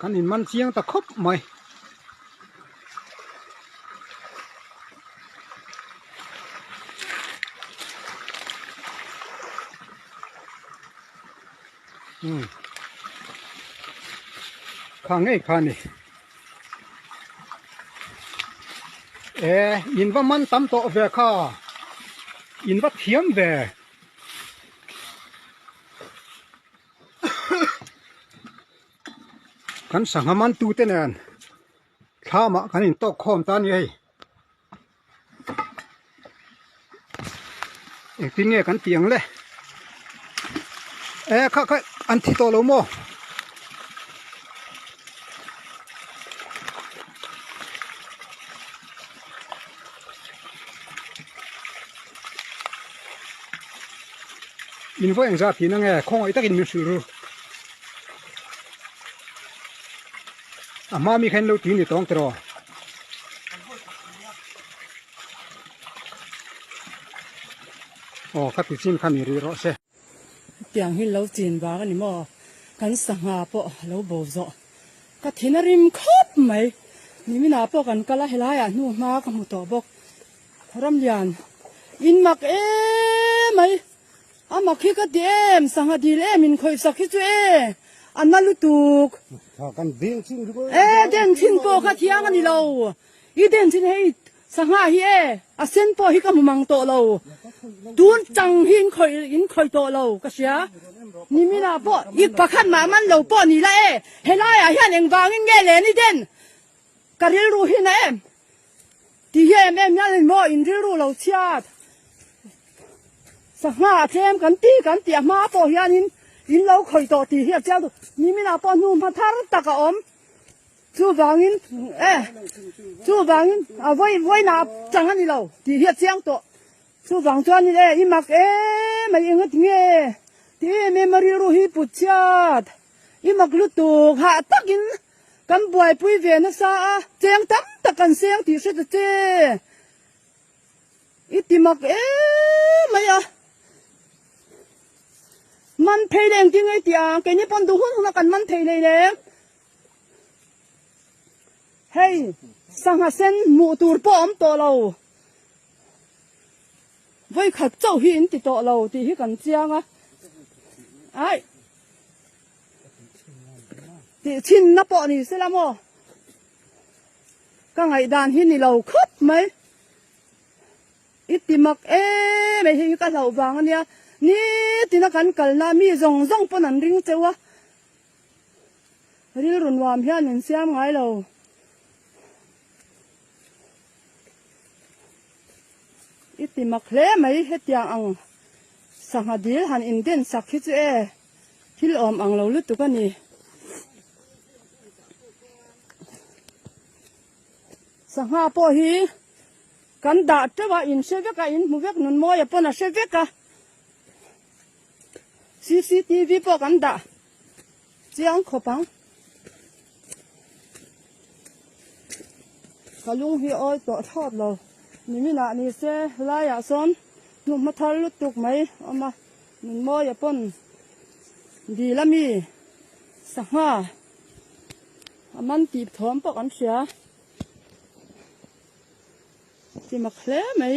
kan in man chiang ta khawp mai umm kha ngei kha ni ehh in va man tam tawh ve kha in va thiam ve. kan sangha man tu te nen thla mah kan in tawk khawm ta nia hei engtin nge kan tih ang le e kha kha an thi tawh lo maw in vawi ang zat tihna nge khawngaih takin min hrilh ru a hma mi khan lo ti ni tawng tiraw aw ka ti chin kha mi rih rawh se. Hetiang hi lo chin vang a ni maw? Kan sangha pawh a lo bo zawh. Ka thin a rim khawp mai. Nimina pawh kan kal a, helaiah hnu hma ka hmu tawh bawk. Ramlian, in mak e mai. A mak hi ka ti em, sangha dil em in khawih sak hi chu e, a na lutuk. Ka kan den chin ri ngawih. E den chin pawh ka thiang a ni lo. I den chin hi Sangha hi e, a sen pawh hi ka hmu mang tawh lo, tun chang hi in khawih in khawih tawh lo ka hria, nimin ah pawh i pakhat mah man lo pawh ni la e, helai ah hian engvang in nge len i den ka rilru hi na em ti hi em em hian emaw in rilru lo chhiat sangha a tlem kan ti kan ti a hma pawh hian in in lo khawih tawh ti hi a chiang tu nimin ah pawh hnu hma thar tak a awm. Chuvangin, E! Chuvangin, A vawi vawiinah a chang a ni lo tih hi a chiang tawh. Chuvang chuanin, E! I mak e mai eng ati nge? Ti em em a rilru hi put chiat. I mak lutuk, hah takin kan buaipui ve nasa a, cheng tam tak kan seng tih hre ta che. I ti mak e mai a. Man phei leh engtin nge ti ang? Keini pawn duh hun huna kan man thei lei lem. Hei sangha sen hmuh tur pawh awm tawh lo, vawikhat chauh hi in ti tawh lo tih hi kan chiang a, aih tih chhinna pawh ni se la maw, ka ngaihdan hi ni lo khawp mai, i ti mak e mai hi ka hlauh vang a nia, nitin a kan kalna mi zawng zawng pawn an ring cheu a. Rilru nuam hian min siam ngai lo. I ti mak hle mai hetiang ang sangha dil han in den sak hi chu e thil awm ang lo lutuk a ni. Sangha pawh hi kan dah teuh a in hre vek a in hmu vek nun mawia pawn a hre vek a. CCTV pawh kan dah chiang khawp ang. Ka lung hi awi tawh thawt lo. Niminah ni se laiah sawn hnu hma thar lutuk mai awm a. Min mawi a pawn dil a mi sangha a man tih thawm pawh kan hria. Tima hle mai.